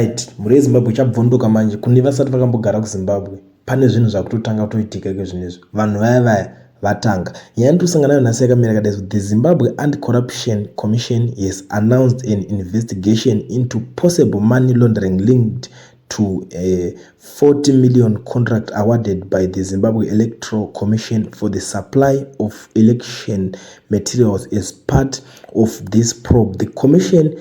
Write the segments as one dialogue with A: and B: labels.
A: Right, mhuri yeZimbabwe ichabvunduka manje kune vasati vakambogara kuZimbabwe. Pane zvinhu zvakutotanga kutoitika iko zvinezvi. Vanhu vaya vaya vatanga. Nyaya ndikusangana nayo nhasi yakamira yakadai kuti the Zimbabwe Anti-Corruption Commission has announced an investigation into possible money laundering linked to a 40 million contract awarded by the Zimbabwe Electoral Commission for the supply of election materials as part of this probe. The commission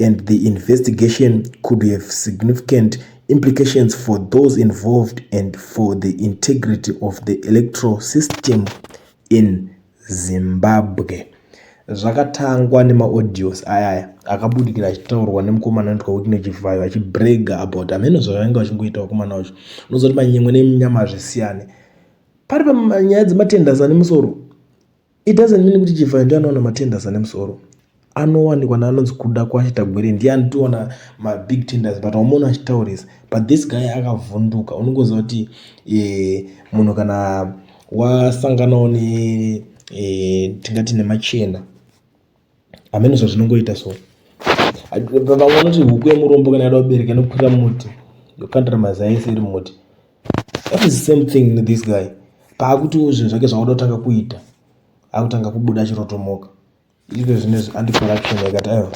A: and the investigation could have significant implications for those involved and for the integrity of the electoral system in zimbabwe zvakatangwa nemaaudios ayaya akabudikira achitaurwa nemukomana anoitwa kuti nechivhayo achibrega about ameno zvavainge vachingoita vakomana vacho unozoti manyemwe neminyama hazvisiyane pari panyaya dzematenders ane musoro It doesn't mean kuti Chivhayo ndiye anowana matenders ane musoro. Anowanikwa neanonzi kuda kwacho Tagwere ndiye anotiwana mabig tenders but haumaona achitaurisa. But this guy akavhunduka unongoziva kuti eh, munhu kana wasanganawo ne eh, tingati nemachena hameno zvazvinongoita so vamwe vanoti huku yemurombo kana yada kubereka inokwira muti yokandira mazai ese iri muti that is the same thing this guy paakutiwo zvinhu zvake zvakuda kutanga kuita akutanga kubuda achirotomoka izvo zvinezvi andicorruption yakati aiwa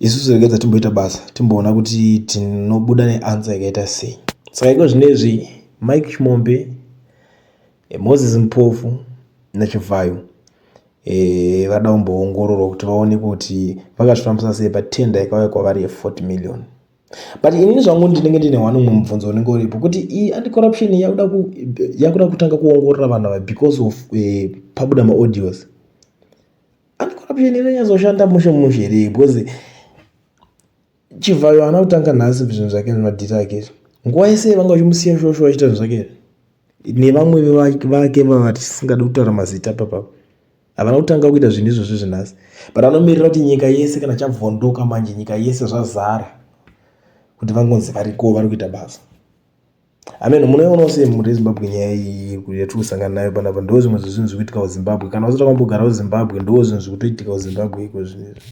A: isusu regedza timboita basa timboona kuti tinobuda neansa yakaita sei saka iko zvinezvi mike chimombe Eh, Moses Mpofu naChivhayo eh, vada kumboongororwa kuti vaone kuti vakazvifambisa sei patender yakauya kwavari ye40 million but inini zvangu ndinenge ndine one umwe mubvunzo unenge uripo kuti iyi anticorruption yakuda ku- yakuda kutanga kuongorora vanhu ava because of eh, pabuda maaudios anticorruption inonyazoshanda mushe mushe here because Chivhayo haana kutanga nhasi zvinhu zvake zvemadhiri ake izvi. Nguva yese vanga vachimusiya shosho vachiita zvinhu zvake izvi. Nevamwe vake vatisingade kutaura mazita papapo. Havana kutanga kuita zvinhu izvozvi zvenhasi. But anomirira kuti nyika yese kana chabvondoka manje nyika yese zvazara kuti vangonzi variko vari kuita basa. Amen munoiona sei mhuri yeZimbabwe nyaya iyi yatiri kusangana nayo panapa ndoo zvimwe zvezvinhu zviri kuitika kuZimbabwe kana usati wambogara kuZimbabwe ndoo zvinhu zviri kutoitika kuZimbabwe iko zvinezvi.